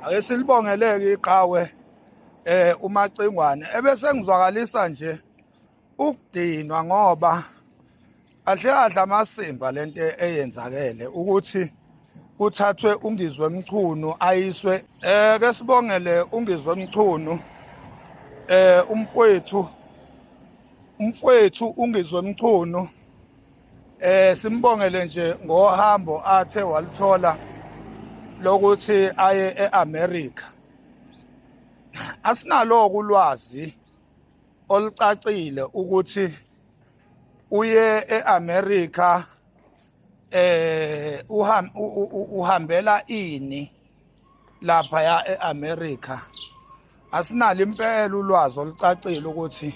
ake silibongeleke iqhawe eh umacingwane ebese ngizwakalisa nje ukudinwa ngoba ahle adla amasimba lento eyenzakele ukuthi kuthathwe ungizwe mchunu ayiswe eh ke sibongele ungizwe mchunu eh umfowethu umfowethu ungizwe mchunu Eh simbongele nje ngohambo athe walithola lokuthi aye eAmerica. Asinalo kulwazi olucacile ukuthi uye eAmerica eh uhambela ini lapha ya eAmerica asinalo impela ulwazi olucacile ukuthi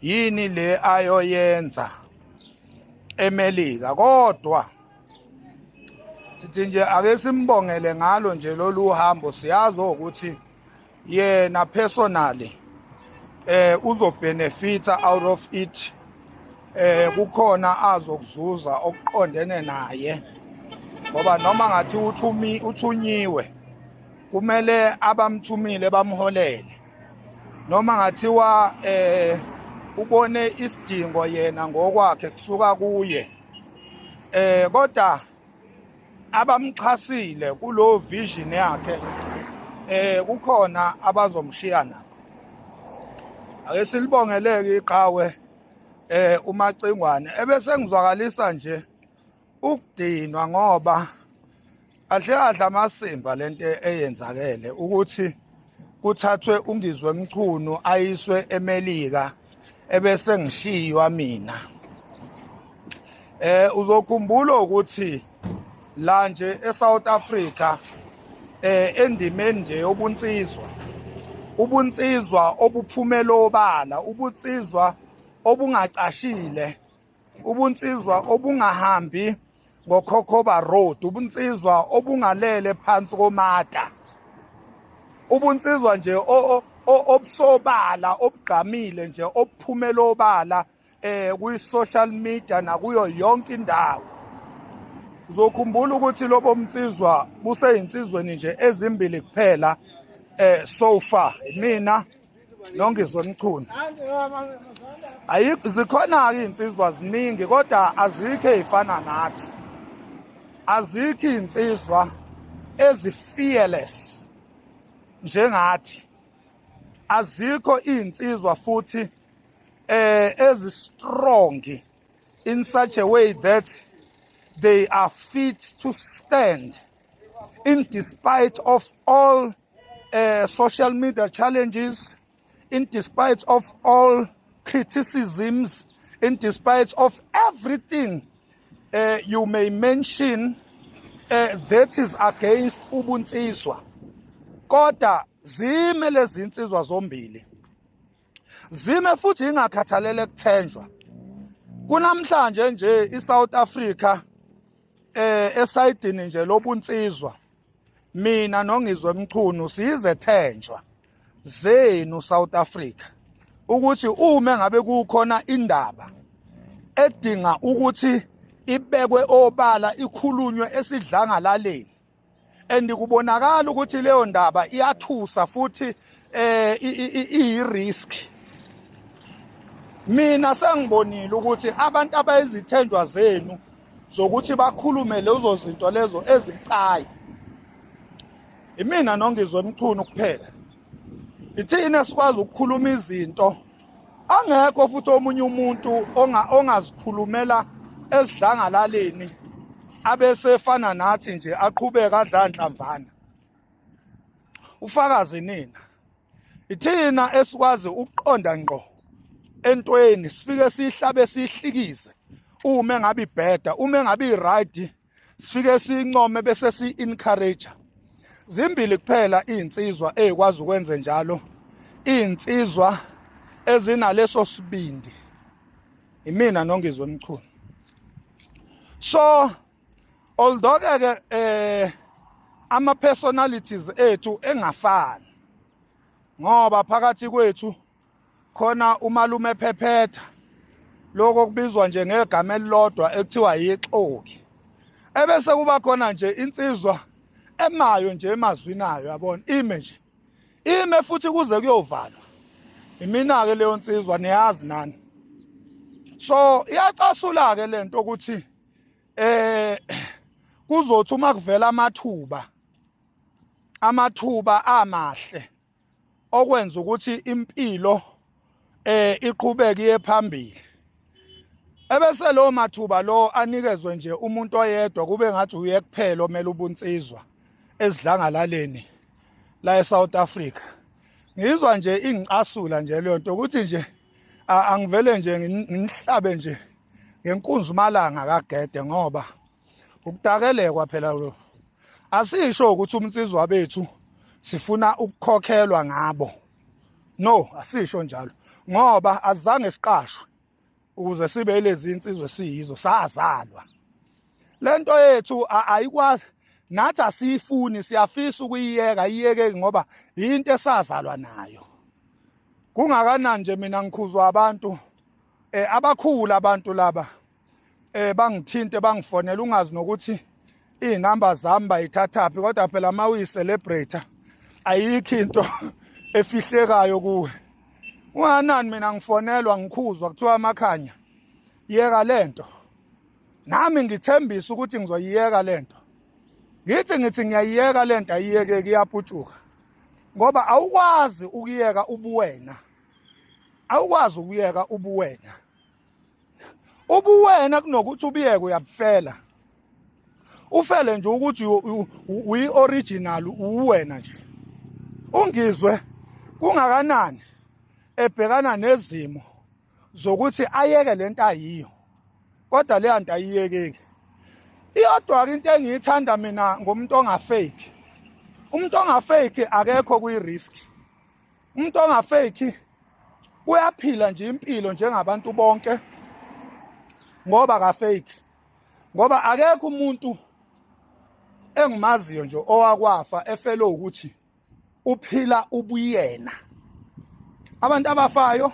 yini le ayoyenza eMelika kodwa sithi nje ake simbongele ngalo nje lolu hambo siyazi ukuthi yena personally eh uzobenefita out of it eh kukhona azokuzuza okuqondene naye ngoba noma ngathi uthumi uthunyiwe kumele abamthumile bamholele noma ngathiwa eh ubone isidingo yena ngokwakhe kusuka kuye eh kodwa abamxhasile kulo vision yakhe eh kukhona abazomshiya nabo ake silibongeleke iqhawe eh umacingwane ebese ngizwakalisa nje ukudinwa ngoba ahle adla amasimba lento eyenzakele ukuthi kuthathwe ungizwe mchunu ayiswe emelika ebese ngishiywa mina eh uzokhumbula ukuthi la nje eSouth Africa eh endimeni nje yobunsizwa ubunsizwa obuphumela obala ubunsizwa obungacashile ubunsizwa obungahambi ngokhokhoba road ubunsizwa obungalele phansi komata ubunsizwa nje obusobala obugqamile nje obuphumela obala eh kwi-social media nakuyo yonke indawo uzokhumbula ukuthi lobo mnsizwa buseyinsizweni nje ezimbili kuphela eh so far mina Nongizwe Mchunu. Ayikho zikhona ke insizwa ziningi kodwa azikho ezifana nathi. Azikho insizwa ezi fearless njengathi. Azikho insizwa futhi eh ezi strong in such a way that they are fit to stand in despite of all uh, social media challenges in despite of all criticisms in despite of everything uh, you may mention uh, that is against ubunsizwa kodwa zime lezi insizwa zombili zime futhi ingakhathalele kuthenjwa kunamhlanje nje iSouth Africa eh esayidini nje lobunsizwa mina nongizwe mchunu siyizethenjwa zenu South Africa ukuthi uma ngabe kukhona indaba edinga ukuthi ibekwe obala ikhulunywe esidlangalaleni and kubonakala ukuthi leyo ndaba iyathusa futhi eh iyirisk mina sengibonile ukuthi abantu abayizithenjwa zenu zokuthi bakhulume lezo zinto lezo ezibucayi imina nongizwe emchunu kuphela ithina esikwazi ukukhuluma izinto angekho futhi omunye umuntu ongazikhulumela esidlangalaleni abesefana nathi nje aqhubeka adla nhlamvana ufakazi nina ithina esikwazi ukuqonda ngqo entweni sifike sihlabe sihlikize uma ngabe ibheda uma ngabe iright sifike sincome bese si encourage zimbili kuphela insizwa ezikwazi ukwenze njalo insizwa ezinaleso sibindi imina nongizwe mchunu so although ke eh ama personalities ethu engafani ngoba phakathi kwethu khona umalume phephetha lokho kubizwa nje ngegama elilodwa ekuthiwa yixoki ebese kuba khona nje insizwa emayo nje emazwini ayo yabona ime nje ime futhi kuze kuyovalwa imina ke leyo nsizwa niyazi nani so iyacasula ke lento ukuthi eh kuzothi uma kuvela amathuba amathuba amahle okwenza ukuthi impilo eh iqhubeke iye phambili ebese lo mathuba lo anikezwe nje umuntu oyedwa kube ngathi uye kuphela omele ubunsizwa esidlangalaleni la eSouth Africa ngizwa nje ingicasula nje leyo nto ukuthi nje angivele nje nginihlabe nje ngenkunzi umalanga kagede ngoba ukudakelekwa phela lo asisho ukuthi umnsizwa bethu sifuna ukukhokhelwa ngabo no asisho njalo ngoba azange siqashwe ukuze sibe lezi insizwe siyizo sazalwa lento yethu ayikwazi nathi asiyifuni siyafisa ukuyiyeka iyeke ngoba yinto esazalwa nayo kungakanani nje mina ngikhuzwa abantu eh abakhulu abantu laba eh bangithinte bangifonela ungazi nokuthi izinamba zami bayithathaphi kodwa phela uma uyi-celebrator ayikho into efihlekayo kuwe unganani mina ngifonelwa ngikhuzwa kuthiwa amakhanya yeka le nto nami ngithembisa ukuthi ngizoyiyeka le nto ngithi ngithi ngiyayiyeka le nto ayiyekeki iyaputshuka ngoba awukwazi ukuyeka ubuwena awukwazi ukuyeka ubuwena ubuwena kunokuthi ubiyeke uyabufela ufele nje ukuthi uyi original uwena nje ungizwe kungakanani ebhekana nezimo zokuthi ayeke lento ayiyo kodwa leya nto ayiyekeki iyodwa-ke into engiyithanda mina ngomuntu ongafeki umuntu ongafeki akekho kwi-risk umuntu ongafeki uyaphila nje impilo njengabantu bonke ngoba kafeki ngoba akekho umuntu engimaziyo nje owakwafa efele ukuthi uphila ubuyena abantu abafayo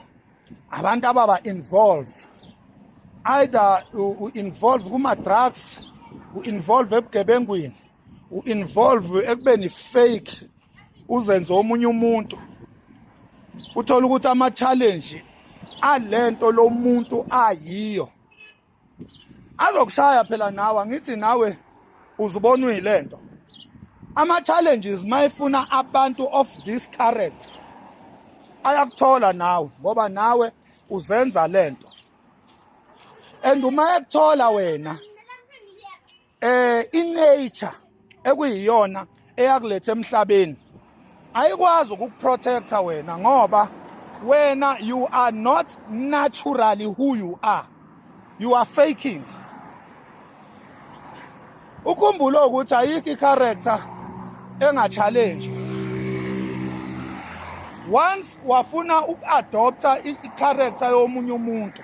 abantu ababa involve either u involve kuma drugs u involve ebugebengwini u involve ekubeni fake uzenze omunye umuntu uthola ukuthi ama challenge alento lomuntu ayiyo azokushaya phela nawe angithi nawe uzubona uyilento ama challenges mayifuna abantu of this character ayakuthola nawe ngoba nawe uzenza lento and uma ekuthola wena eh inature ekuyiyona eyakulethe emhlabeni ayikwazi ukukuprotecta wena ngoba wena you are not naturally who you are you are faking ukhumbule ukuthi ayikho i-character engachallenge once wafuna uku-adopta i-character yomunye umuntu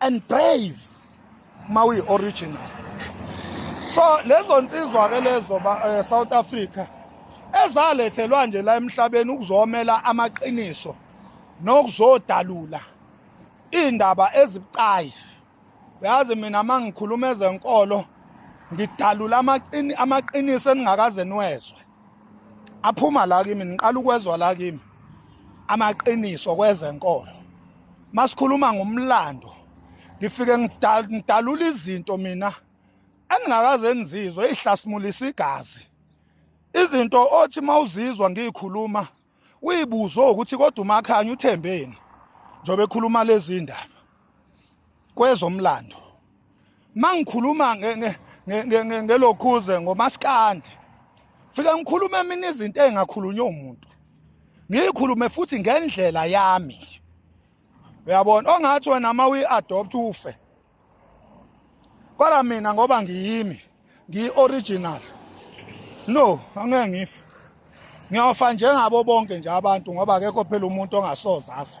and brave uma uyi-original so lezo nsizwa-ke lezo eh, south africa ezalethelwa nje la emhlabeni ukuzomela amaqiniso nokuzodalula iy'ndaba ezibucayi uyazi mina uma ngikhuluma ezenkolo ngidalula amaqiniso eningakaze niwezwe aphuma la kimi niqala ukwezwa la kimi amaqiniso kwezenkolo masikhuluma ngomlando ngifike ngidalula izinto mina engingakaze ngizizwe ihlasimulisa igazi izinto othi mawuzizwa ngiyikhuluma uyibuzo ukuthi kodwa umakhanya uthembeni njobe ekhuluma lezi ndaba kwezomlando mangikhuluma ngelokhuze ngomaskandi fike ngikhulume mina izinto engakhulunywa umuntu ngiyikhulume futhi ngendlela yami uyabona ongathi wena uma uyi-adopt ufe kodwa mina ngoba ngiyimi ngiyi-original no angeke ngife ngiyofa njengabo bonke nje abantu ngoba akekho phela umuntu ongasoze afe